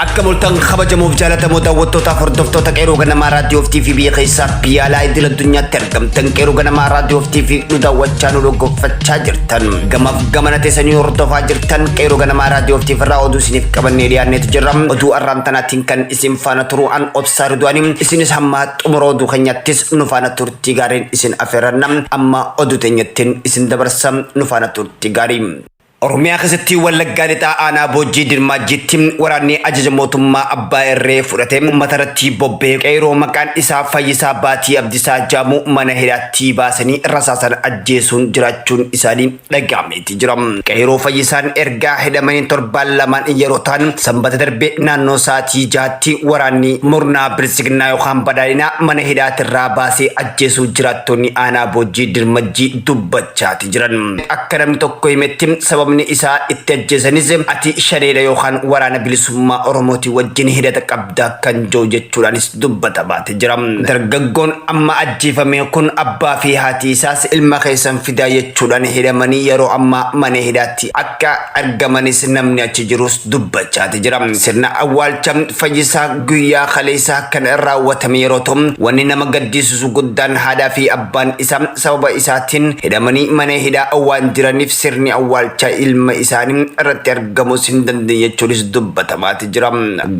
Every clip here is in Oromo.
Akka mul'atan kabajamuuf jaalatamoo daawwattootaaf hordoftoota qeeroo ganamaa raadiyoo TV biyya keessaa biyya alaa idil addunyaatti argamtan qeeroo ganamaa raadiyoo TV nu daawwachaa nu dhaggeeffachaa jirtan gamaaf gamana teessanii hordofaa jirtan qeeroo ganamaa raadiyoo TV irraa oduu isiniif qabannee dhiyaanneetu jirra oduu arraantanaatiin kan isin faana turuu an obsaa riduwaani isinis hamma xumura oduu keenyattis nu faana turtii gaariin isin afeerranna amma oduu teenyattin isin dabarsa nu faana turtii gaarii Oromiyaa keessatti Wallaggaa Lixaa Aanaa Boojjii Dirmaajjiitti waraanni ajaja mootummaa abbaa irree fudhate uummata irratti bobbee qeeroo maqaan isaa Fayyisaa Baatii Abdisaa Jaamuu mana hidhaatti baasanii rasaasan ajjeesuun jiraachuun isaanii dhaga'ameeti jira. Qeeroo Fayyisaan ergaa hidhamanii torbaan lamaan yeroo ta'an sanbata darbe naannoo sa'aatii jaatti waraanni murnaa bilisignaa yookaan badhaadhinaa mana hidhaatirraa baasee ajjeesuu jiraattonni aanaa boojjii dirmajjii dubbachaati jiran. Akka namni tokko himetti sababni isaa itti ajjeesanis ati shaneedha yookaan waraana bilisummaa Oromooti wajjin hidhata qabda kan jiru jechuudhaanis dubbata baate. jira. Dargaggoon amma ajjeefame kun abbaa fi haati isaas ilma keessan fidaa jechuudhaan hidhamanii yeroo ammaa mana hidhaatti akka argamanis namni achi jirus dubbachaati jira. Sirna awwaalcha fayyisaa guyyaa kaleessaa kan raawwatame yeroo ta'u wanni nama gaddisiisu guddaan haadhaa fi abbaan isaa sababa isaatiin hidhamanii mana hidhaa waan jiraniif sirni awwaalchaa ilma isaanii irratti argamus hin dandeenye jechuunis dubbatamaati. jira.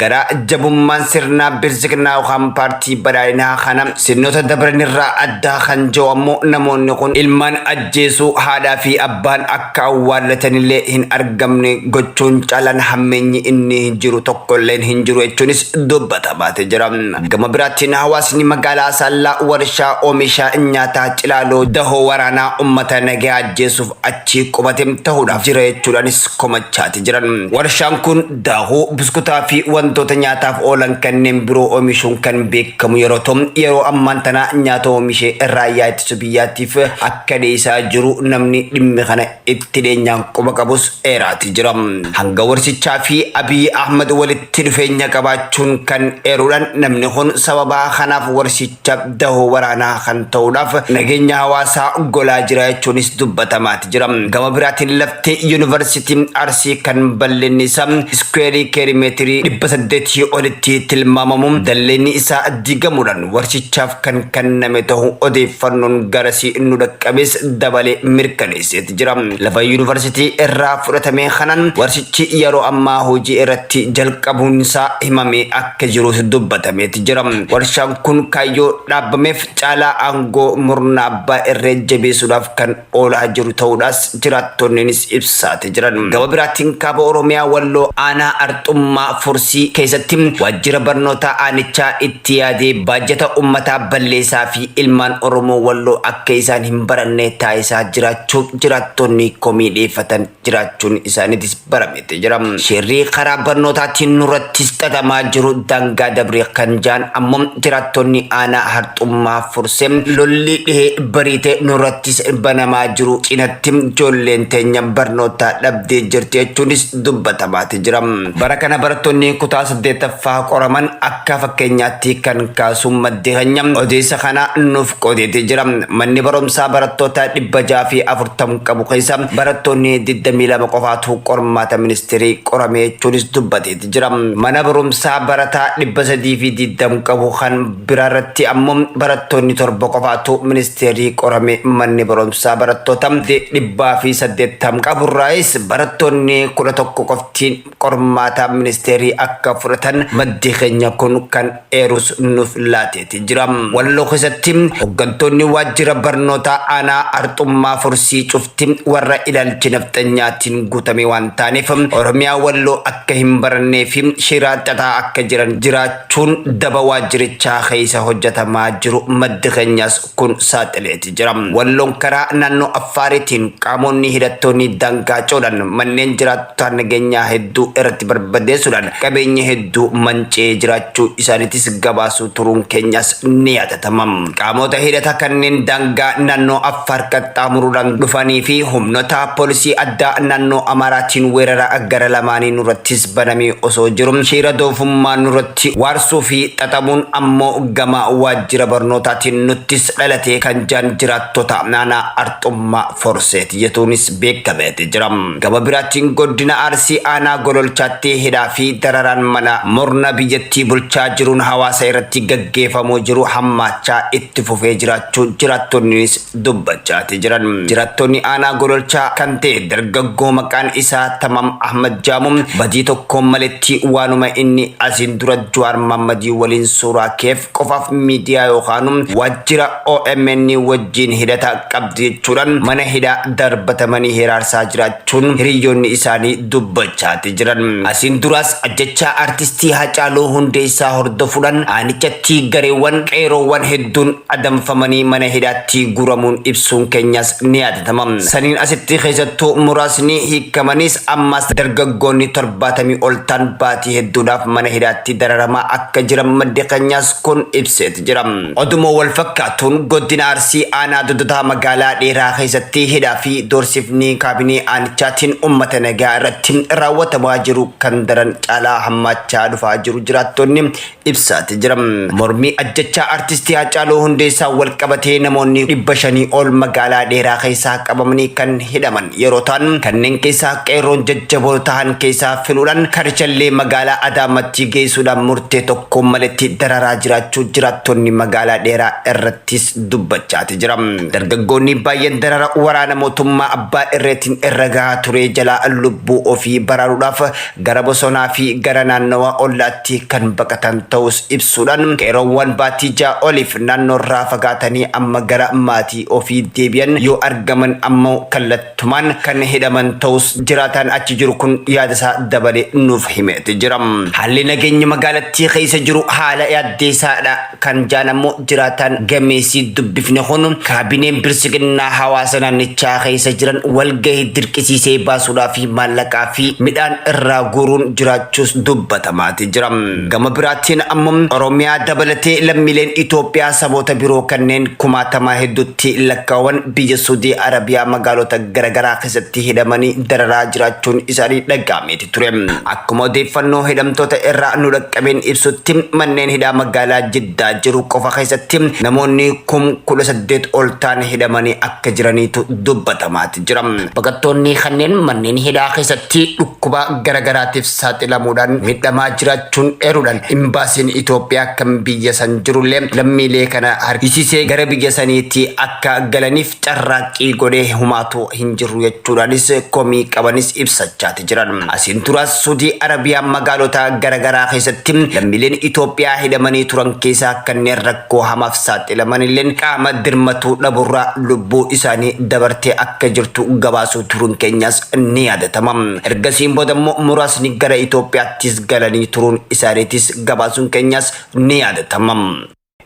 Garaa jabummaan sirnaa bilsignaa yookaan paartii badhaadhinaa kana sirnoota dabranirraa addaa kan jiru ammoo namoonni kun ilmaan ajjeesuu haadhaa fi abbaan akka awwaallatanillee hin argamne gochuun caalaan hammeenyi inni jiru tokkolleen hin jiru jechuunis dubbatamaati jira. Gama biraatiin hawaasni magaalaa Asaallaa warshaa oomisha nyaataa Cilaaloo dahoo waraanaa uummata nagaa ajjeesuuf achii qubate ta'uudhaaf jira jechuudhaanis komachaati jiran. Warshaan kun Daakuu, buskutaa fi wantoota nyaataaf oolan kanneen biroo oomishuun kan beekamu yeroo ta'u, yeroo ammaan tana nyaata oomishee raayyaa ittisa biyyaatiif akka dhiyeessaa jiru namni dhimmi kana itti dhiyeenyaan quba qabus eeraati jira. Hanga warsichaa fi Abiy Ahmad walitti dhufeenya qabaachuun kan eeruudhaan namni kun sababaa kanaaf warsicha dahoo waraanaa kan ta'uudhaaf nageenya hawaasaa golaa jira jechuunis dubbatamaati jira. Gama biraatiin laftee yuunivarsiitii Arsii kan bal'inni isaa iskuweerii keerimeetirii dhibba saddeetii olitti tilmaamamu dalleenni isaa diigamuudhaan warshichaaf kan kenname ta'u odeeffannoon garasii nu dhaqqabes dabalee mirkaneesseeti jira. Lafa yuunivarsiitii irraa fudhatame kanaan warshichi yeroo ammaa hojii irratti jalqabuun isaa himamee akka akka jirus dubbatameeti jira. Warshaan kun kaayyoo dhaabameef caalaa aangoo murna abbaa irree jabeessuudhaaf kan oolaa jiru ta'uudhaas jiraattonniinis ibsaati jiran. Gama biraatiin kaaba Oromiyaa Walloo aanaa Arxummaa Fursii keessatti waajjira barnootaa aanichaa itti yaadee baajata ummataa balleessaa fi ilmaan Oromoo Walloo akka isaan hin baranne taasisaa jiraachuu jiraattonni komii dhiyeeffatan jiraachuun isaaniitis barameeti jira. Shirri karaa barnootaatiin nurrattis xaxamaa jiru daangaa dabre kan jaan ammoo jiraattonni aanaa harxummaa furse lolli dhihee bariite nurrattis banamaa jiru cinatti ijoolleen teenya barnootaa dhabdee jirti jechuunis dubbatamaati jira. Bara kana barattoonni kutaa 8ffaa qoraman akka fakkeenyaatti kan kaasu maddi keenya odeessa kana nuuf qoodeeti jira. Manni barumsaa barattoota 640 qabu keessa barattoonni 22 qofaatu qormaata ministeerii qorame jechuunis dubbateeti jira. Mana barumsaa barataa 320 qabu kan biraarratti ammoo barattoonni torba qofaatu ministeerii qorame manni barumsaa barattoota 180 qaburraayis barattoonni 11 qofti tiin qormaataa ministeerii akka fudhatan maddi keenya kun kan eerus nuuf laateeti jira. Walloo keessatti hoggantoonni waajjira barnootaa aanaa Arxummaa Fursii cufti warra ilaalchi nafxanyaatiin guutame waan taaneef Oromiyaa Walloo akka hin barannee fi shiraa xaxaa akka jiran jiraachuun daba waajjirichaa keessa hojjatamaa jiru maddi keenyas kun saaxileeti jira. Walloon karaa naannoo Affaariitiin qaamonni hidhattoonni daangaa ce'uudhaan manneen jiraattotaa nageenyaa hedduu irratti barbadeessuudhaan qabeenya hedduu manca'ee jiraachuu isaaniitis gabaasuu turuun keenyaas ni yaadatama. Qaamota hidhata kanneen daangaa naannoo Affaar qaxxaamuruudhaan dhufanii fi humnota poolisii addaa naannoo Amaaraatiin weerara gara lamaanii nurrattis banamee osoo jiru shiira doofummaa nurratti waarsuu fi xaxamuun ammoo gama waajjira barnootaatiin nuttis dhalatee kan jaan jiraattota aanaa Arxummaa Forseet jetuunis beekameeti jira. Gama biraatiin goddina Arsii aanaa Gololchaatti hidhaa fi dararaan mana murna biyyattii bulchaa jiruun hawaasa irratti gaggeefamuu jiru hammaachaa itti fufee jiraachuu jiraattonninis dubbachaati jiran. Jirattonni aanaa Gololchaa kan ta'e dargaggoo maqaan isaa Tamam Ahmad Jaamu badii tokkoon maletti waanuma inni asiin dura Jawaar Maammadii waliin suuraa keef qofaaf miidiyaa yookaanu waajjira omn wajjiin hidhata qabdu jechuudhaan mana hidhaa darbatamanii hiraarsaa jiraachuun hiriyyoonni isaanii dubbachaati jiran. Asiin duraas ajjechaa artistii Haacaaluu Hundeessaa hordofuudhaan aanichatti gareewwan qeeroowwan hedduun adamfamanii mana hidhaatti guuramuun ibsuun keenyaas ni yaadatama. Saniin asitti keessattuu muraasni hiikamaniis ammaas dargaggoonni 70 ol ta'an baatii hedduudhaaf mana hidhaatti dararamaa akka jiran maddi keenyaas kun ibseeti jira. Oduma walfakkaatuun Godina Arsii Aanaa Dodotaa Magaalaa Dheeraa keessatti hidhaa fi doorsifni kaabinee aanichaatiin uummata nagaa irratti raawwatamaa jiru kan daran caalaa hammaachaa dhufaa jiru jiraattonni ibsaati jira. Mormii ajjechaa Artistii Haacaaluu Hundeessaan walqabatee namoonni 500 ol magaalaa Dheeraa keessaa qabamanii kan hidhaman. Yeroo ta'an kanneen keessaa qeerroon jajjaboo tahan keessaa filuudhaan karchallee magaalaa Adaamattii geessuudhaan murtee tokkoon maletti dararaa jiraachuu jiraattonni magaalaa Dheeraa irrattis dubbachaati jira. Dargaggoonni baay'een darara waraana mootummaa abbaa irreetiin irra gahaa turee jalaa lubbuu ofii baraaruudhaaf gara bosonaa fi gara naannawa ollaatti kan baqatan ta'uus ibsuudhaan, qeerroowwan baatii 6 oliif naannoorraa fagaatanii amma gara maatii ofii deebi'an yoo argaman ammoo kallattumaan kan hidhaman ta'uus jiraataan achi jiru kun yaadasaa dabalee nuuf himeeti jira. Haalli nageenyi magaalattii keessa jiru haala yaaddeessaadha. Kan jaan ammoo jiraataan gameessii dubbifne kun kaabineen bilsiginnaa hawaasa naannichaa keessa jiran walgahii dirqisiisee baasuudhaa fi maallaqaa fi midhaan irraa guuruun jiraachuus dubbatamaati jira. Gama biraatiin ammoo Oromiyaa dabalatee lammiileen Itoophiyaa saboota biroo kanneen kumaatamaa hedduutti lakkaa'aman biyya Suudii Arabiyaa magaalota garagaraa keessatti hidhamanii dararaa jiraachuun isaanii dhaga'ameeti ture. Akkuma odeeffannoo hidhamtoota irraa nu dhaqqabeen ibsutti manneen hidhaa magaalaa Jiddaa jiru qofa keessatti namoonni kum kudha saddeet ol ta'an hidhamanii akka jiraniitu dubbatamaati jira. Baqattoonni kanneen manneen hidhaa keessatti dhukkuba garagaraatiif saaxilamuudhaan miidhamaa jiraachuun eeruudhaan imbaasiin Itoophiyaa kan biyya san jirullee lammiilee kana harkisiisee gara biyya saniitti akka galaniif carraaqqii godhe humaatu hin jirru jechuudhaanis komii qabanis ibsachaati jiran. Asiin turas Sudii Arabiyaa magaalota garagaraa keessatti lammiileen Itoophiyaa hidhamanii turan keessaa kanneen rakkoo hamaaf saaxilamanilleen qaama dirmatuu dhaburraa lubbuu isaanii dabartee akka jirtu gabaasuu turuun keenyaas ni yaadatama. Ergasiin boodammoo muraasni gara Itoophiyaattis galanii turuun isaaniitis gabaasuun keenyaas ni yaadatama.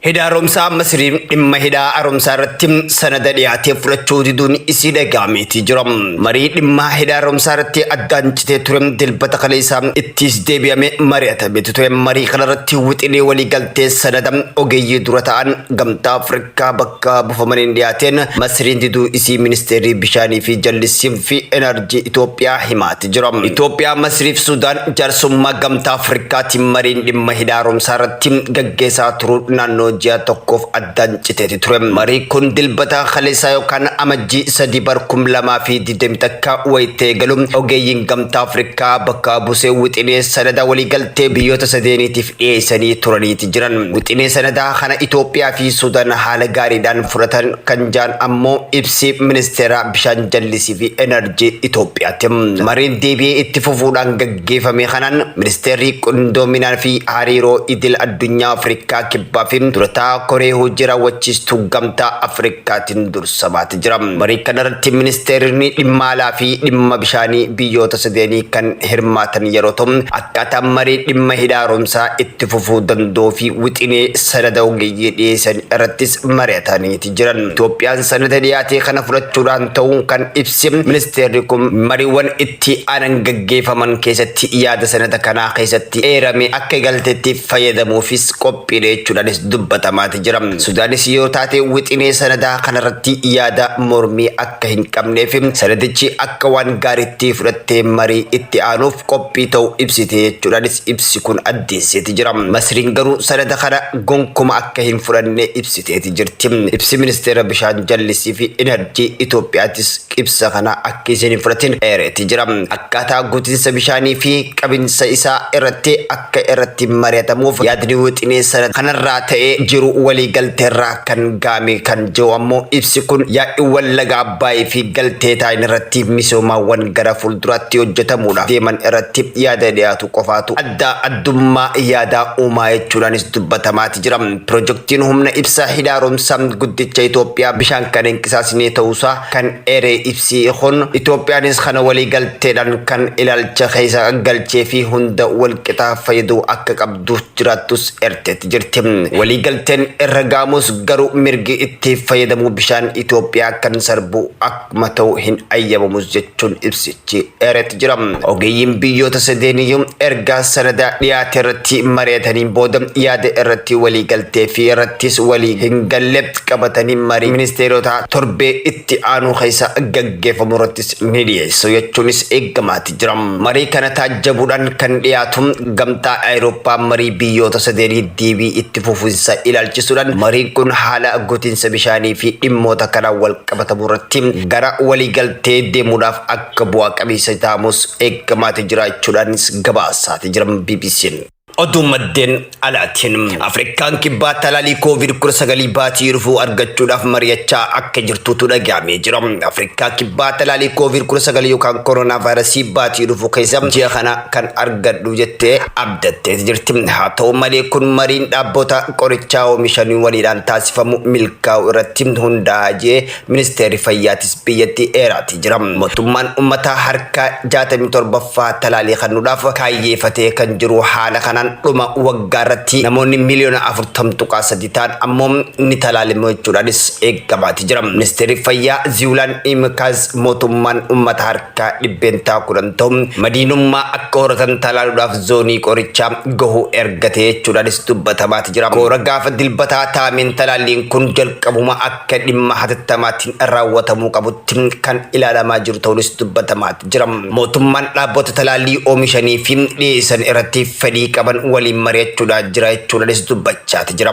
Hidha Haaromsaa Masiriin dhimma hidha haaromsaa irratti sanada dhiyaatee fudhachuu diduun isii dhaga'ameetii jira. Marii dhimma hidha haaromsaa irratti addaan citee ture dilbata kaleessaa ittiis deebi'ame mari'atametu ture. Marii kana irratti wixinee walii galtee sanada ogeeyyii dura ta'an gamtaa Afrikaa bakka buufamaniin dhiyaateen Masiriin diduu isii ministeerri bishaanii fi jallisii fi enerjii Itoophiyaa himaate. beeksise jira. Itoophiyaa, Masriif Sudaan jaarsummaa gamtaa Afrikaatiin mariin dhimma hidha haaromsaa irratti gaggeessaa turuun naannoo ji'a tokkoof addaan citeeti ture. Marii kun dilbata kaleessaa yookaan amajjii sadii bar kum lamaa fi digdamii takka wayita eegalu ogeeyyiin gamtaa Afrikaa bakka buusee wixinee sanada waliigaltee biyyoota sadeeniitiif dhiyeessanii turaniiti jiran. Wixinee sanadaa kana Itoophiyaa fi Sudan haala gaariidhaan fudhatan kan jaan ammoo ibsi ministeera bishaan jallisii fi enerjii Itoophiyaati. Mariin deebi'ee itti fufuudhaan gaggeefame kanaan ministeerri qindoominaa fi hariiroo idil addunyaa Afrikaa Kibbaa fi durataa koree hojii raawwachiistuu gamtaa Afrikaatiin dursa. sabaati jira. Marii kanarratti ministeeronni dhimma alaa fi dhimma bishaanii biyyoota sadeenii kan hirmaatan yeroo ta'u akkaataa marii dhimma hidha haaromsaa itti fufuu danda'uu fi wixinee sanada ogeeyyii dhiyeessan irrattis mari'ataniiti jiran. Itoophiyaan sanada dhiyaatee kana fudhachuudhaan ta'uu kan ibse ministeerri kun mariiwwan itti aanan gaggeeffaman keessatti yaada sanada kanaa keessatti eerame akka galteetti fayyadamuufis qophii qophiilee jechuudhaanis dubbatamaati jira. Sudaanis yoo taate wixinee sanadaa kanarratti yaada mormii akka hin qabnee fi sanadichi akka waan gaariitti fudhattee marii itti aanuuf qophii ta'u ibsite jechuudhaanis ibsi kun addeesseeti jira. Masriin garuu sanada kana gonkuma akka hin fudhanne ibsiteeti jirti. Ibsi Ministeera Bishaan Jallisii fi Inarjii Itoophiyaatis ibsa kana akka isin hin fudhatin eereeti jira. Akkaataa guutinsa bishaanii fi qabinsa isaa irratti akka irratti mari'atamuuf yaadni wixinee sana kanarraa ta'ee jiru walii galteerraa kan gaame kan jiru ammoo ibsi kun yaa'iiwwan laga Abbaayii fi galtee taa'in irratti misoomaawwan gara fuulduraatti hojjetamuudhaaf deeman irratti yaada dhiyaatu qofaatu addaa addummaa yaadaa uumaa jechuudhaanis dubbatamaati jira. Pirojektiin humna ibsaa hidha haaromsaa guddicha Itoophiyaa bishaan kan hin qisaasine ta'uusaa kan eere ibsi kun Itoophiyaanis kana waliigalteedhaan kan ilaalcha keessa galchee fi hunda walqixa fayyaduu akka qabdu jiraattus eerteetti jirti. Waliigalteen irra ga'amus garuu mirgi itti fayyadamuu bishaan Itoophiyaa kan sarbu akka kuma ta'uu hin ayyamamus jechuun ibsichi eeretti jira. Ogeeyyiin biyyoota sadeeniyyuu erga sanada dhiyaate irratti mari'atanii booda yaada irratti walii galtee fi irrattis walii hin galle qabatanii marii ministeerotaa torbee itti aanuu keessa gaggeeffamu irrattis ni dhiyeessu jechuunis eegamaati. jira. Marii kana taajjabuudhaan kan dhiyaatu gamtaa Awurooppaa marii biyyoota sadeenii deebii itti fufinsa ilaalchisuudhaan mariin kun haala gotinsa bishaanii fi dhimmoota kanaan wal qabatamu irratti gara waliigaltee deemuudhaaf akka bu'aa qabeessa ta'amus eeggamaati jiraachuudhaanis gabaasaati jiran BBC'n. Oduu maddeen alaatiin Afrikaan kibbaa talaalii koovid 19 baatii dhufuu argachuudhaaf mari'achaa akka jirtuutu dhaga'amee jira. Afrikaa kibbaa talaalii koovid 19 yookaan koronaa vaayirasii baatii dhufuu keessa ji'a kana kan argadhu jettee abdattee jirti. Haa ta'u malee kun mariin dhaabbota qorichaa oomishanii waliidhaan taasifamu milkaa'u irratti hundaa'a jee Ministeerri Fayyaatis biyyattii eeraati jira. Mootummaan ummataa harka 67ffaa talaalii kannuudhaaf kaayyeefatee kan jiru haala kanaan dhuma waggaarratti namoonni miliyoona 40.3 ta'an ammoo ni talaalimu jechuudhaanis eeggamaati jira. Ministeerri Fayyaa Ziwulaan Imikaaz mootummaan ummata harka 10% ta'u madiinummaa akka horatan talaaluudhaaf zoonii qorichaa gahu ergate jechuudhaanis dubbatamaati jira. Koora gaafa Dilbataa taa'ameen talaalliin kun jalqabuma akka akka dhimma hatattamaatiin raawwatamuu qabutti kan ilaalamaa jiru ta'uunis dubbatamaa jira. Mootummaan dhaabota talaallii oomishanii fi dhiyeessan irratti fedhii qaban waliin mari'achuudhaa jira jechuudhaanis dubbachaa jira.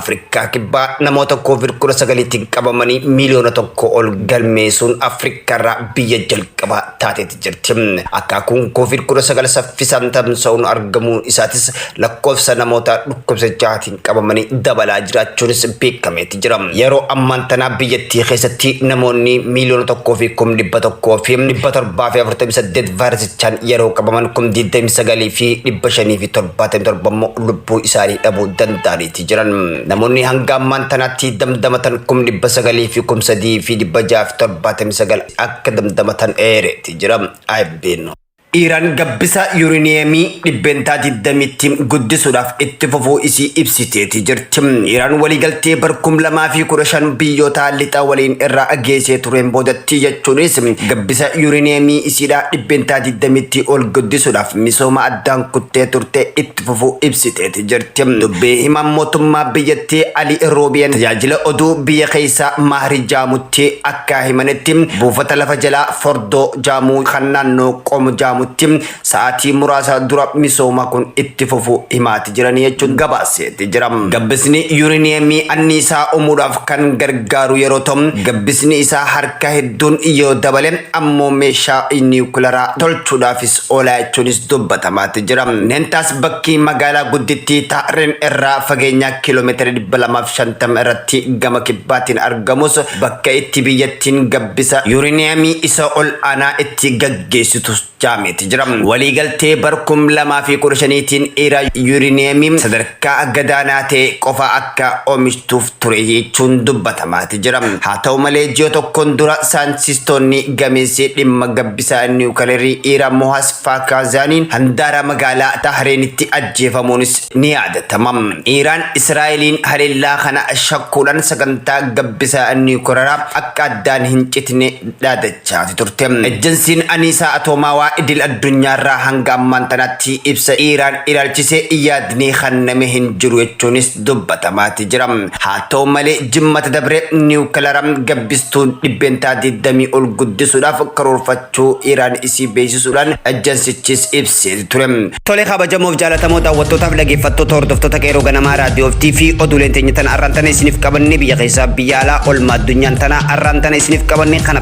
Afrikaa Kibbaa namoota koovid 19tiin qabamanii miiliyoona tokko ol galmeessuun Afrikaarraa biyya jalqabaa taatee jirti. Akaakuun Covid 19 saffisaan tamsa'uun argamuun isaatis lakkoofsa namoota dhukkubsachaatiin qabamanii dabalaa jiraachuunis beekameeti jira. Yeroo ammaan tanaa biyyattii keessatti namoonni miiliyoona tokkoo fi kum dhibba tokkoo fi dhibba torbaa fi afurtamii saddeet vaayirasichaan yeroo qabaman kum digdamii sagalii fi dhibba shanii fi torbaatamii torba immoo lubbuu isaanii dhabuu danda'aniiti. jiran namoonni hanga ammaan tanaatti damdamatan kum dhibba sagalii fi kum sadii fi dhibba jaha fi torbaatamii sagal akka damdamatan eereeti jira AFP'n. Iiraan gabbisa yuuriniyeemii dhibbeentaa 20tti guddisuudhaaf itti fufuu isii ibsiteeti jirti. Iiraan waliigaltee bara 2015 biyyoota lixa waliin irraa geessee tureen boodatti jechuunis gabbisa yuuriniyeemii isiidhaa dhibbeentaa 20tti ol guddisuudhaaf misooma addaan kuttee turte itti fufuu ibsiteeti. jirti. Dubbii himaan mootummaa biyyattii Ali Roobiyeen tajaajila oduu biyya keessaa Maahri Jaamutti akka himanitti buufata lafa jalaa Fordoo Jaamuu kan naannoo Qom Jaamutti sa'aatii muraasa dura misooma kun itti fufu himaati jiranii jechuun gabaaseeti jira. Gabbisni yuuriniyeemii anniisaa uumuudhaaf kan gargaaru yeroo ta'u gabbisni isaa harka hedduun yoo dabale ammoo meeshaa niwukilaraa tolchuudhaafis Xoolaa jechuunis dubbatamaati jira. Nentaas bakkii magaalaa guddittii Taa'rin irraa fageenyaa kiilomeetira 250 irratti gama kibbaatiin argamus bakka itti biyyattiin gabbisa yuriniyamii isa ol aanaa itti gaggeessitus jaameeti jira. Waliigaltee bar 2015tiin Iiraan yuriniyamii sadarkaa gadaanaa ta'e qofa akka omishtuuf ture jechuun dubbatamaati jira. Haa ta'u malee ji'a tokkoon dura saayintistoonni gameessi dhimma gabbisaa niwukilarii Iira Mohas Faakaazaaniin handaara magaalaa Tahreenitti ajjeefamuunis ni yaadatama. Iiraan Israa'eliin haleellaa kana shakkuudhaan sagantaa gabbisaa niwukilaraa akka addaan hin citne dhaadachaati turte. Ejjansiin Aniisaa Atoomaawaa Idil Addunyaarraa hanga ammaan tanaatti ibsa Iiraan ilaalchisee yaadni kenname hin jiru jechuunis dubbatamaati jira. Haa ta'u malee jimmata dabre niwukilara gabbistuun dhibbeentaa 20 ol guddisuudhaaf karoorfachuu Iraan isii beeksisuudhaan ejansichis ibsee ture. Tole kabajamoof jaalatamoo daawwattootaaf dhageeffattoota hordoftoota qeerroo ganamaa raadiyoo fi TV oduuleen teenya tana arraan tana isiniif qabannee biyya keessaa biyya alaa olmaa addunyaan tana arraan tana isiniif qabannee kana